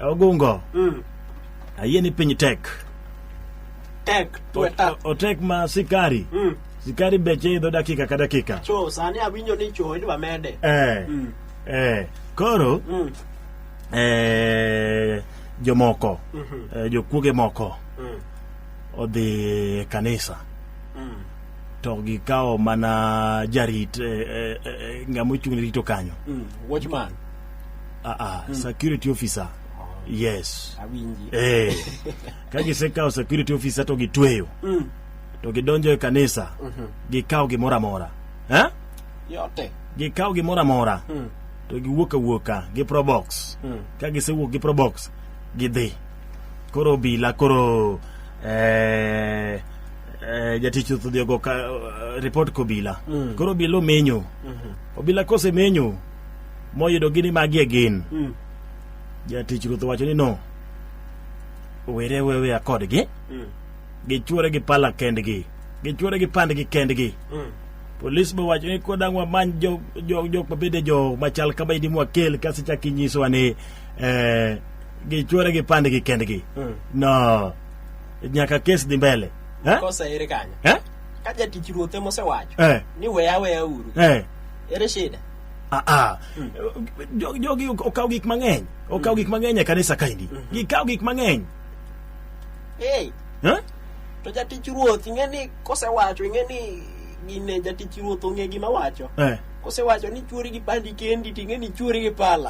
Ogungo, Mm. ayie ni piny tek. Tek tuwe tak. O- Otek ma sikari. Mm. Sikari beche idho dakika ka dakika. Cho sani awinjo ni cho idwa mede. Eh, Mm. eh. Koro, Mm. eh, jomoko, Mhm. eh, jokuoge moko Mm. odhi e kanisa. Mm. to gikawo mana jarit eh, eh, eh, ng'ama ochung' ne rito kanyo Mm. Watchman. ah, ah, security officer yes awinji eh, ka gisekawo security officer to gitweyo Mm. to gidonjo e kanisa gikawo gimoro amora eh? yote gikawo gimoro amora Mm. to giwuok awuoka gi probox Mm. ka gisewuok gi probox gidhi koro obila koro eh, eh, jatich ruoth odhi ogo ka- eh, report kobila Mm. koro obila omenyo obila kosemenyo moyudo gini magie gin Mm. jatich ruoth owacho ni no were weweya kodgi Mm. gichwore gi pala kendgi gichwore gi pandgi kendgi Mm. polis be wacho ni kodang wamany jo- jo- jok mabende jo machal kama idi mwakel kasi chak inyisowa ni eh, gichwore gi pandgi kendgi Mm. no nyaka kes dhi mbele eh? Kosa ere kanyo? Eh? Ka jatich ruoth ema osewacho Eh? ni weya weya uru. Eh? Ere shida? Ah, ah. Jo- jogi ok- okaw gik mang'eny okaw gik mang'eny e kanisa kaendi gikaw gik mang'eny Hey, Eh? to jatich ruoth ing'e ni kosewacho ing'e ni gine jatich ruoth ong'e gima wacho. Eh. kosewacho ni chuori gi pandi kendi ting'e ni chuori gi pala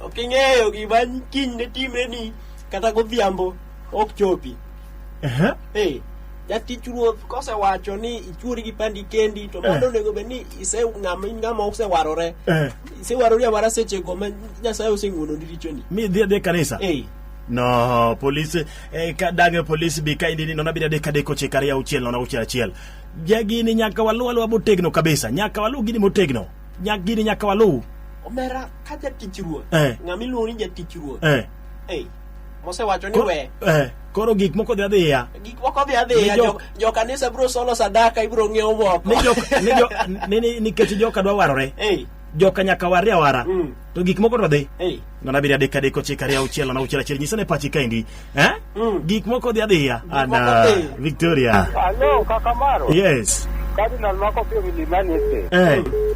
ok ing'eyo gima kiny ne timre ni kata godhiambo ok chopi Ehe. Hey, jatich ruoth kosewacho ni ichuori gi pandi kendi to mano Eh. onego bed ni ise ng'ama in ng'ama osewarore Eh. isewarori awara sechego ma nyasaye oseng'wononi richoni Mi dhi adhi e kanisa. Ei, No, polisi eh, ka dage polisi bi ka indini nona bira deka deko chika ria uchiel nona uchiel achiel. Jagini nyaka walu alwa motegno kabisa. Nyaka walu gini motegno. Nyaka gini nyaka walu. omera ka jatich ruoth Eh. ng'ama iluongo ni jatich ruoth Eh. Ei, mosewacho ni Koro- we eh, koro gik moko dhi adhiya gik moko dhi adhiya Ni jo- jo- jokanisa biro solo sadaka ibiro ng'iewo moko ni joka- ni jo- ni- ni- nikech joka dwa warore Ei, joka nyaka warre awara Mm. to gik moko to dhi ei, ngona abiri adek adek ochiko ariyo auchiel nono auchiel achiel nyisa ne pachi kaendi eh? Mm. gik moko dhi adhiya moko ana dhi. victoria Hello, Kakamaro. yes Cardinal Marco Pio Milimani Estate. eh.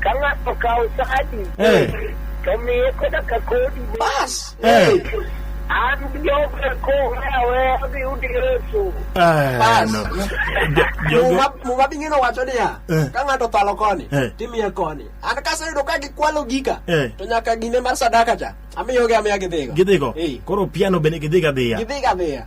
Ka ng'ato kawo sadi, Eh. to miye koda ka kodi. Bas. Eh. An joga kong'e aweya dhi udi Yesu. Ah, Bas. no. Jo- jogo- Muma muma bingino wacho niya, Eh. ka ng'ato thalo koni, Eh. timiye koni. An kaseyudo ka gikwalo gika, Eh. to nyaka gine mar sadaka cha, amiyogi amiya gidhigo. gidhigo Eh. koro piano bende gidhiga dhiya Gidhiga dhiya.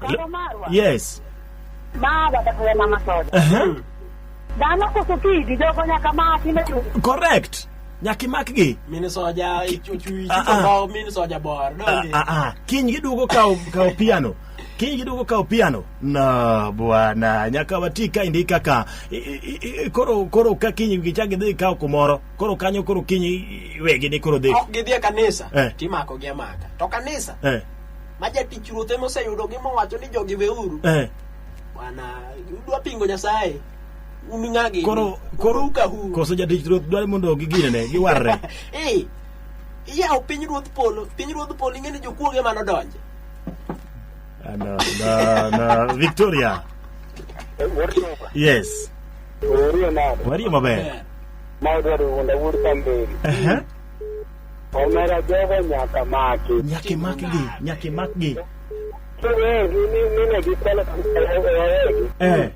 Baba Marwa. Yes. Ma baba tuwe mama soda. Uh-huh. Dhano koso kidi jogo nyaka maki ne tu. Correct. Nyaki makgi. Mini soja chuchu Ah, ah. chuchu mini soja bor. Ah, Donge. ah, ah. Kiny giduogo kawo kawo piano. Kiny giduogo kawo piano. No, bwana, nyaka wati ka indi kaka i- i- i- koro koro ka kiny gichak gidhi kawo kumoro. Koro kanyo koro kiny wegi ni koro dhi. Ok gidhi e kanisa. Eh. Timako gi amaka. To kanisa. Eh. ma jatich ruoth ema oseyudogi mowacho ni jogi weuru eh. bwana udwa pingo nyasaye un ng'agi koro koro kahu koso jatich ruoth dwani mondo giginene giwarre eh iyawo piny ruodh polo piny ruodh polo ing'e ni jokuoge ema nodonje Ah, no, no, no. victoria yes Orie nade? warie maber Ma odwaro wuonda wuod Kamberi. Ehe. Omera jogo nyaka maki. Nyaka imakgi, nyaka imakgi. Kiwegi ni mine gikwalo wawegi. Eh.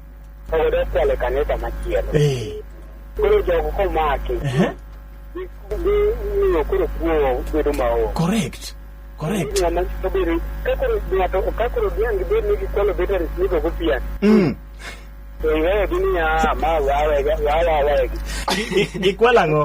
Oyudo kwalo e kanisa machielo. Eh. Koro jogo komaki. Eh. Gimiyo koro kuo bedo maonge. Correct. Correct. Ng'ama obiro ka koro ng'ato ka koro dhiang' gibed ni gikwalo batteries nigo gopian. Mm. To iwegi niya ma wawegi wawawegi. Gi- gi- Gikwalo ang'o?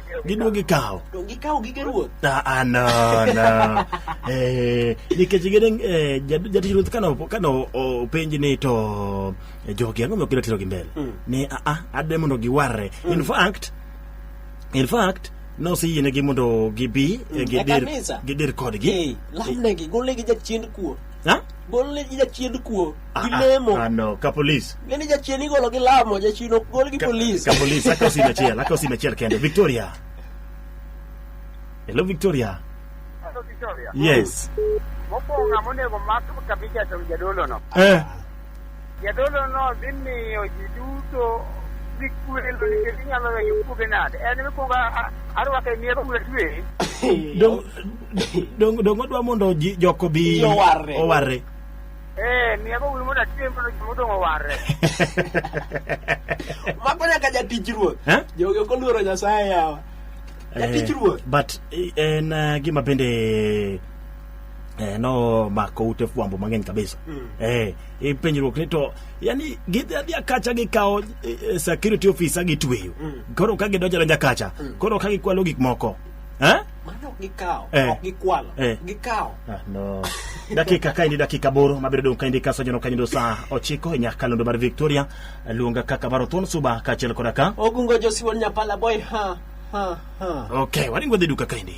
Giduogo gikawo. To gikawo gige ruoth. Ah, ah, no, no. eh, nikech gide eh, jad- jatich ruoth kano kano openj ni to eh, jogi ang'o mokidwa tero gi mbele ni ah, ah, ade mondo giwarre in fact in fact noseyienegi mondo gibi eh, e gidir kanisa. gidir kodgi Eh, lamnegi, golnegi jachien kuo. Ha? Golnegi jachien kuo. gi Ah, lemo ah, no, ka polis. ng'eni jachien igolo gi lamo jachien ok gol gi Ka- polis Ka polis, aka osime achiel, aka osime achiel kende. Victoria. Hello, Victoria. Hello, Victoria. Yes. Mokwongo ng'ama onego mak kabija to jadolono. Eh. Jadolono dhi miyo ji duto dhi kwelo nikech inyalo weyo kuoge nade. En mikwongo a- arwako e mier kuwe twe. Dong dong dong odwa mondo ji- joko bi Ji owarre. owarre. Eh, miya go wimo na tiyo mpono jimo dongo warre. Mako nyaka jatich ruoth. Eh? Jogi ok oluoro Nyasaye yawa. Jatich ruoth. but eh, en eh, gima bende eh, nomako ute fwambo mang'eny kabisa eh, i penjruok ni to yani gidhi adhia kacha gikawo eh, eh, security officer gitweyo koro ka gidonjo donja kacha koro ka gikwalo gik moko eh? Mano ok gikawo, Eh. ok gikwalo, Eh. gikawo. Ah, no. dakika kaendi dakika boro mabiro dong' kaendi ka sajono kanyindo saa ochiko e nyakalondo mar victoria luonga kaka baro thon suba kaachiel koda ka Ogungo Josiwon Nyapala boy ha ha ha. ok waringo dhi duka kaendi